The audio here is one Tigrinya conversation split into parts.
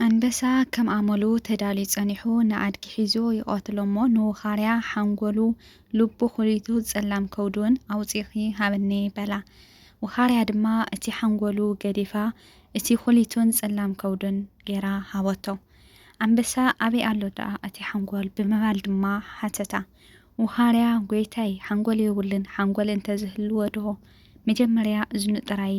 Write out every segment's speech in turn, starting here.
ኣንበሳ ከም ኣመሉ ተዳልዩ ጸኒሑ ንኣድጊ ሒዙ ይቐትሎ'ሞ ንውኻርያ ሓንጎሉ ልቡ ኩሊቱ ጸላም ከብዱ'ውን ኣውጺእኺ ሃብኒ በላ። ውኻርያ ድማ እቲ ሓንጎሉ ገዲፋ እቲ ኩሊቱን ጸላም ከብዱን ገይራ ሃበቶ። ኣንበሳ ኣበይ ኣሎ ደኣ እቲ ሓንጎል ብምባል ድማ ሓተታ። ውኻርያ ጎይታይ ሓንጎል የብሉን ሓንጎል እንተዝህልዎዶ መጀመርያ እዝኑ ጥራይ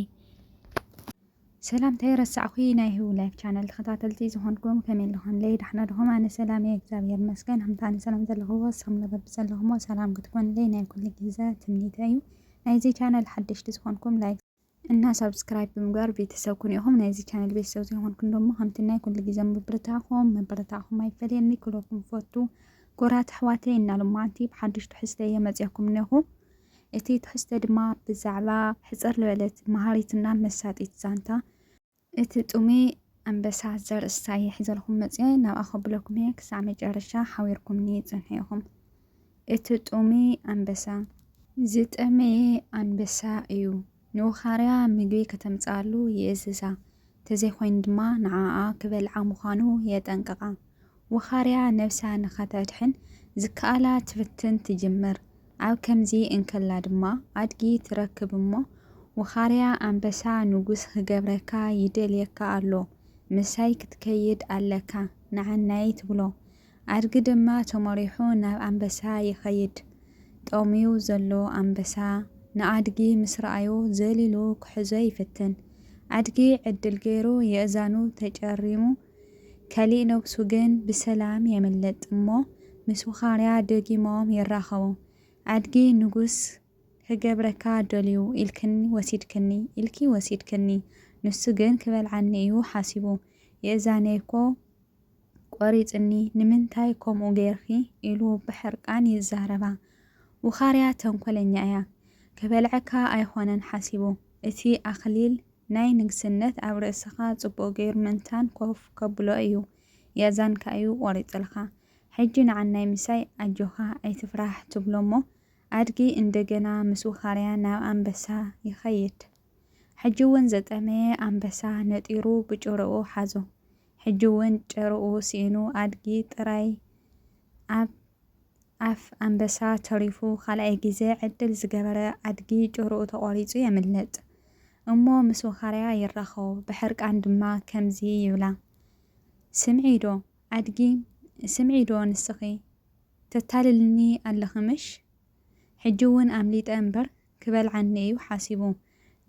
ሰላም ተይረሳዕኩይ ናይ ህዊ ላይፍ ቻነል ተኸታተልቲ ዝኾንኩም ከመይ ኣለኹምለይ ዳሕና ድኹም ኣነ ሰላም እየ እግዚኣብሔር ይመስገን ከምቲ ኣነ ሰላም ዘለኹዎ ንስኹም ንበቢ ዘለኹሞ ሰላም ክትኮኑለይ ናይ ኩሉ ግዘ ትምኒተ እዩ ናይዚ ቻነል ሓደሽቲ ዝኾንኩም ላይክ እና ሳብስክራይብ ብምግባር ቤተሰብ ኩኑ ኢኹም ናይዚ ቻነል ቤተሰብ ዘይኾንኩም ደሞ ከምቲ ናይ ኩሉ ግዘ ምብርታዕኹም ምብርታዕኹም ኣይፈለየኒ ክለኩም ፈቱ ጎራት ኣሕዋተይ እና ሎማዓንቲ ብሓደሽቱ ሕዝተ እየ መፅያኩም እነኹ እቲ ትሕዝቶ ድማ ብዛዕባ ሕጽር ልበለት መሃሪትና መሳጢት ዛንታ እቲ ጥሙይ ኣንበሳ ዘርእስታ እየ ሒዘልኩም መጽየ ናብኣ ከብለኩም እየ ክሳዕ መጨረሻ ሓቢርኩምኒ ጽንሑ ኢኹም እቲ ጥሙይ ኣንበሳ ዝጠመየ ኣንበሳ እዩ። ንውኻርያ ምግቢ ከተምጽኣሉ ይእዝዛ፣ እንተዘይኮይኑ ድማ ንዓኣ ክበልዓ ምዃኑ የጠንቅቓ። ውኻርያ ነብሳ ንኸተድሕን ዝከኣላ ትፍትን ትጅምር። ኣብ ከምዚ እንከላ ድማ ኣድጊ ትረክብ እሞ፣ ውኻርያ ኣንበሳ ንጉስ ክገብረካ ይደልየካ ኣሎ፣ ምሳይ ክትከይድ ኣለካ፣ ንዓናይ ትብሎ። ኣድጊ ድማ ተመሪሑ ናብ ኣንበሳ ይኸይድ። ጠምዩ ዘሎ ኣንበሳ ንኣድጊ ምስ ረኣዮ ዘሊሉ ክሕዞ ይፍትን። ኣድጊ ዕድል ገይሩ የእዛኑ ተጨሪሙ ከሊእ ነብሱ ግን ብሰላም የምልጥ እሞ ምስ ውኻርያ ደጊሞም ይራኸቡ። ኣድጊ ንጉስ ክገብረካ ደልዩ ኢልክኒ ወሲድክኒ ኢልኪ ወሲድክኒ ንሱ ግን ክበልዓኒ እዩ ሓሲቡ የእዛነይ'ኮ ቆሪጽኒ ንምንታይ ከምኡ ገይርኪ ኢሉ ብሕርቃን ይዛረባ። ውኻርያ ተንኮለኛ እያ ክበልዐካ ኣይኾነን ሓሲቡ እቲ ኣኽሊል ናይ ንግስነት ኣብ ርእስኻ ጽቡቅ ገይሩ ምእንታን ኮፍ ከብሎ እዩ ያዛንካ እዩ ቆሪጽልካ ሕጂ ንዓናይ ምሳይ ኣጆኻ ኣይትፍራህ ትብሎ እሞ ኣድጊ እንደገና ምስ ውኻርያ ናብ ኣንበሳ ይኸይድ ሕጂ እውን ዘጠመየ ኣንበሳ ነጢሩ ብጭርኡ ሓዞ ሕጂ ውን ጭርኡ ሲኢኑ ኣድጊ ጥራይ ኣብ ኣፍ ኣንበሳ ተሪፉ ካልኣይ ግዜ ዕድል ዝገበረ ኣድጊ ጭርኡ ተቆሪጹ የምልጥ እሞ ምስ ወኻርያ ይራኸቡ ብሕርቃን ድማ ከምዚ ይብላ ስምዒ ዶ ኣድጊ ስምዒ ዶ ንስኺ ተታልልኒ ኣለኺ ምሽ ሕጂ ውን ኣምሊጠ እምበር ክበልዓኒ እዩ ሓሲቡ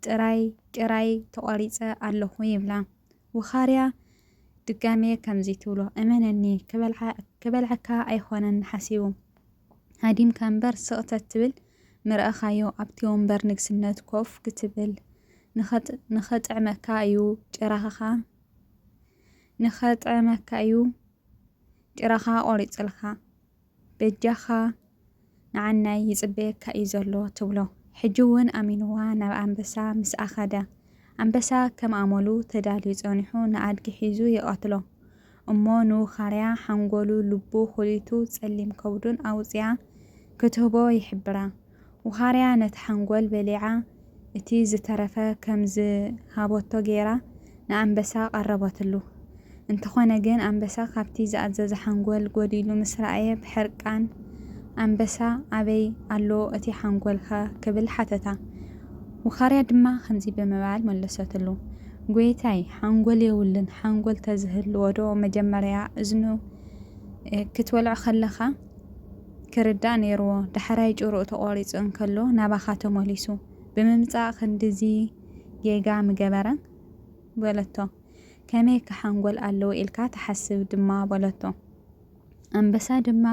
ጥራይ ጭራይ ተቆሪጸ ኣለኩ ይብላ ውኻርያ ድጋሜ ከምዚ ትብሎ እመነኒ ክበልዓክበልዐካ ኣይኮነን ሓሲቡ ሃዲምካ እምበር ስቅ ተትብል ምረእኻዮ ኣብቲ ወንበር ንግስነት ኮፍ ክትብል ንኸጥዕመካ እዩ ጭራኻ ንኸጥዕመካ እዩ ጭራኻ ቆሪጽልካ። በጃኻ ንዓናይ ይጽበየካ እዩ ዘሎ ትብሎ። ሕጂ ውን ኣሚንዋ ናብ ኣንበሳ ምስኣ ከደ። ኣንበሳ ከም ኣመሉ ተዳልዩ ጸኒሑ ንኣድጊ ሒዙ ይቐትሎ። እሞ ንውኻርያ ሓንጎሉ፣ ልቡ፣ ኩሊቱ፣ ጸሊም ከብዱን ኣውጺኣ ክትህቦ ይሕብራ። ውኻርያ ነቲ ሓንጎል በሊዓ እቲ ዝተረፈ ከም ዝሃቦቶ ገይራ ንኣንበሳ ቀረበትሉ። እንተኾነ ግን ኣንበሳ ካብቲ ዝኣዘዘ ሓንጎል ጎዲሉ ምስ ረኣየ ብሕርቃን ኣንበሳ ኣበይ ኣሎ እቲ ሓንጎልካ ክብል ሓተታ። ውኻርያ ድማ ከምዚ ብምባል መለሰትሉ ጎይታይ ሓንጎል የውልን ሓንጎል ተዝህልዎዶ መጀመርያ እዝኑ ክትወልዖ ከለኻ ክርዳእ ነይርዎ ዳሕራይ ጭርኡ ተቆሪጹ እንከሎ ናባኻ ተመሊሱ ብምምጻእ ክንድዚ ጌጋ ምገበረ በለቶ ከመይከ ሓንጎል ኣለዎ ኢልካ ትሓስብ ድማ በለቶ ኣንበሳ ድማ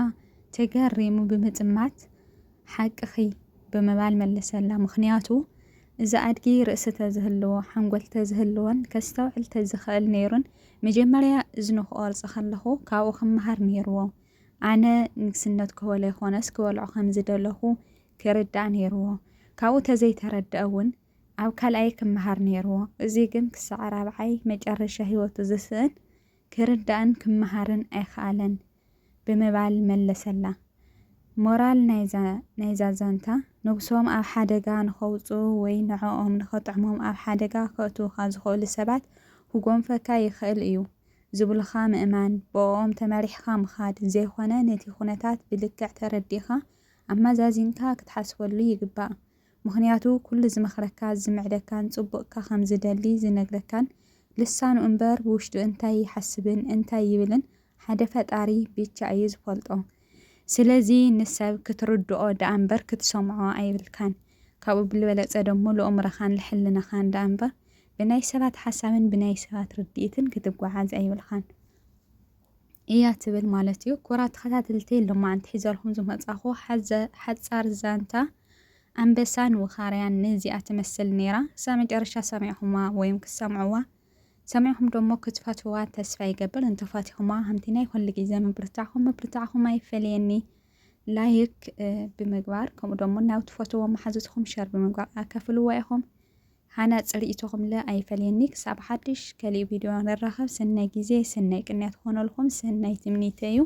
ተገሪሙ ብምጥማት ሓቅኺ ብምባል መለሰላ ምኽንያቱ እዚ ኣድጊ ርእሲ ተዝህልዎ ሓንጎል ተዝህልዎን ከስተውዕል ተዝኽእል ነይሩን መጀመርያ እዝኑ ክቆርጽ ከለኹ ካብኡ ክመሃር ነይርዎ ኣነ ንግስነት ክበሎ ይኾነስ ክበልዖ ከም ዝደለኹ ኪርዳእ ነይርዎ። ካብኡ ተዘይተረድኣ ውን ኣብ ካልኣይ ክመሃር ነይርዎ። እዚ ግን ክሳዕ ራብዓይ መጨረሻ ህይወቱ ዝስእን ኪርዳእን ክመሃርን ኣይኸኣለን ብምባል መለሰላ። ሞራል ናይዛ ናይዛ ዛንታ ንጉሶም ኣብ ሓደጋ ንኸውጽኡ ወይ ንዕኦም ንኸጥዕሞም ኣብ ሓደጋ ከእትዉኻ ዝኸእሉ ሰባት ኹጎንፈካ ይኸእል እዩ። ዝብሉኻ ምእማን፣ ብእኦም ተመሪሕኻ ምኻድ ዘይኮነ ነቲ ኩነታት ብልክዕ ተረዲእኻ ኣመዛዚንካ ክትሓስበሉ ይግባእ። ምኽንያቱ ኩሉ ዝመኽረካ፣ ዝምዕደካን ጽቡቕካ ከም ዝደሊ ዝነግረካን ልሳኑ እምበር ብውሽጡ እንታይ ይሓስብን እንታይ ይብልን ሓደ ፈጣሪ ብቻ እዩ ዝፈልጦ። ስለዚ ንሰብ ክትርድኦ ደኣምበር ክትሰምዖ ኣይብልካን። ካብኡ ብልበለጸ ደሞ ልእምሮኻን ልሕልናኻን ደኣምበር ብናይ ሰባት ሓሳብን ብናይ ሰባት ርድኢትን ክትጓዓዝ ኣይብልካን እያ ትብል ማለት እዩ። ኩራ ተኸታተልቲ ሎማዕንቲ ሒዘልኩም ዝመጻኹ ሓጻር ዛንታ ኣንበሳን ውኻርያን ንዚኣ ትመስል ነይራ። ክሳብ መጨረሻ ሰሚዕኹማ ወይም ክትሰምዕዋ ሰሚዕኹም ደሞ ክትፈትዋ ተስፋ ይገብር። እንተፋቲኹማ ከምቲ ናይ ኩሉ ግዜ ምብርታዕኹም ምብርታዕኹም ኣይፈለየኒ ላይክ ብምግባር ከምኡ ደሞ ናብ ትፈትዎ መሓዙትኹም ሸር ብምግባር ኣካፍልዋ ኢኹም። ሃናጺ ሪኢቶ ክምለ ኣይፈለየኒ ክሳብ ሓድሽ ከሊእ ቪድዮ ንራኸብ ሰናይ ግዜ ሰናይ ቅንያት ክኾነልኹም ሰናይ ትምኒተይ እዩ።